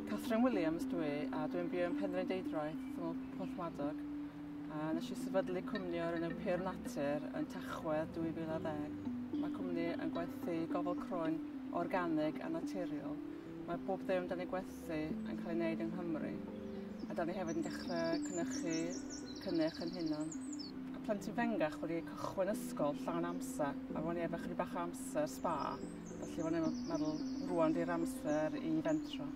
Catherine Williams dwi a dwi'n byw yn Penrhyn Deidroeth, Tymol Porthmadog. A nes i sefydlu cwmni o'r enw Pur Natur yn Tachwedd 2010. Mae cwmni yn gwerthu gofal croen organig a naturiol. Mae bob ddim da ni'n gwerthu yn cael ei wneud yng Nghymru. A da ni hefyd yn dechrau cynnychu cynnyrch yn hunan. A plentyn fengach wedi cychwyn ysgol llawn amser a ro'n i efo chydig bach o amser sba felly ro'n i'n me- meddwl rŵan 'di'r amser i fentro.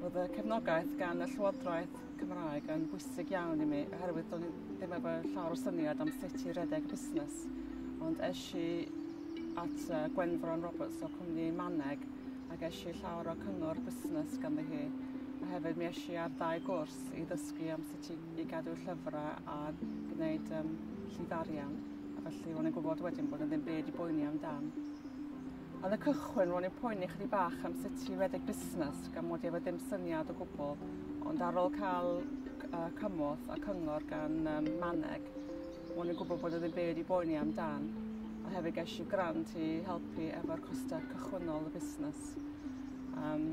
Ro'dd y cefnogaeth gan y Llywodraeth Cymraeg yn bwysig iawn i mi oherwydd do'n i ddim efo llawer o syniad am sut i redeg busnes ond esh i at yy Gwenfron Roberts o cwmni Maneg a gesh i llawer o cyngor busnes ganddi hi a hefyd mi esh i ar ddau gwrs i ddysgu am sut i i gadw llyfrau a gwneud um, llif arian. A felly ro'n i'n gwybod wedyn bod yn ddim byd i boeni amdan. Yn y cychwyn, ro'n i'n poeni chdi bach am sut i redeg busnes gan mod i efo dim syniad o gwbl, ond ar ôl cael uh, cymorth a cyngor gan um, Maneg, ro'n i'n gwybod bod yn ddim byd i boeni amdan, a hefyd ges i grant i helpu efo'r costau cychwynnol y busnes. Um,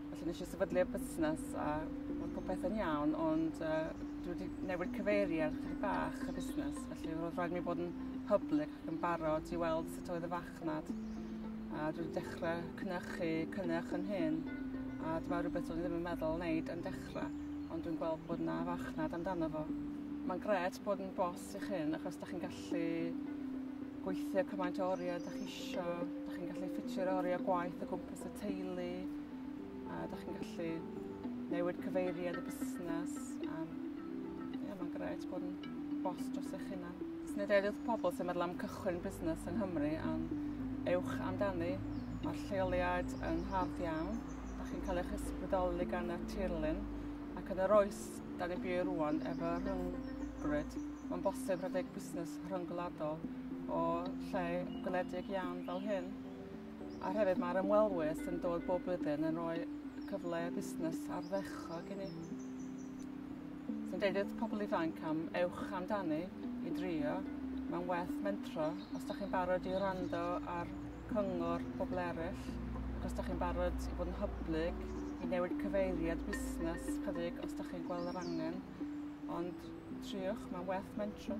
Felly nes i sefydlu'r busnes a mae popeth yn iawn, ond uh, dwi wedi newid cyfeiri ar chydig bach y busnes, felly roedd rhaid mi bod yn public ac yn barod i weld sut oedd y fachnad. A dwi wedi dechrau cynnychu, cynnych yn hyn, a dyma rhywbeth o'n i ddim yn meddwl wneud yn dechrau, ond dwi'n gweld bod yna fachnad amdano fo. Mae'n gret bod yn bos Os ydych chi'n, achos ydych chi'n gallu gweithio cymaint o oriau ydych chi isio, ydych chi'n gallu ffitio'r oriau gwaith o gwmpas y teulu, a ydych chi'n gallu newid cyfeiriad y busnes. A, ie, mae'n gret bod yn bos dros eich hunan. Os nid edrych pobl sy'n meddwl am cychwyn busnes yng Nghymru, am ewch amdani. Mae'r lleoliad yn hardd iawn. Ydych chi'n cael eich ysbrydoli gan y tirlun ac yn yr oes 'Da ni'n byw rŵan efo rhyngrwyd. Mae'n bosib rhedeg busnes rhyngwladol o lle gwledig iawn fel hyn. A hefyd mae'r ymwelwyr sy'n dod bob blwyddyn yn rhoi cyfle busnes ardderchog i ni. Sy'n deud wrth pobl ifanc am ewch amdani i drio. Mae'n werth mentro os da chi'n barod i wrando ar cyngor pobl eraill, ac os da chi'n barod i fod yn hyblyg, i newid cyfeiriad busnes chydig os da chi'n gweld yr angen, ond triwch, mae'n werth mentro.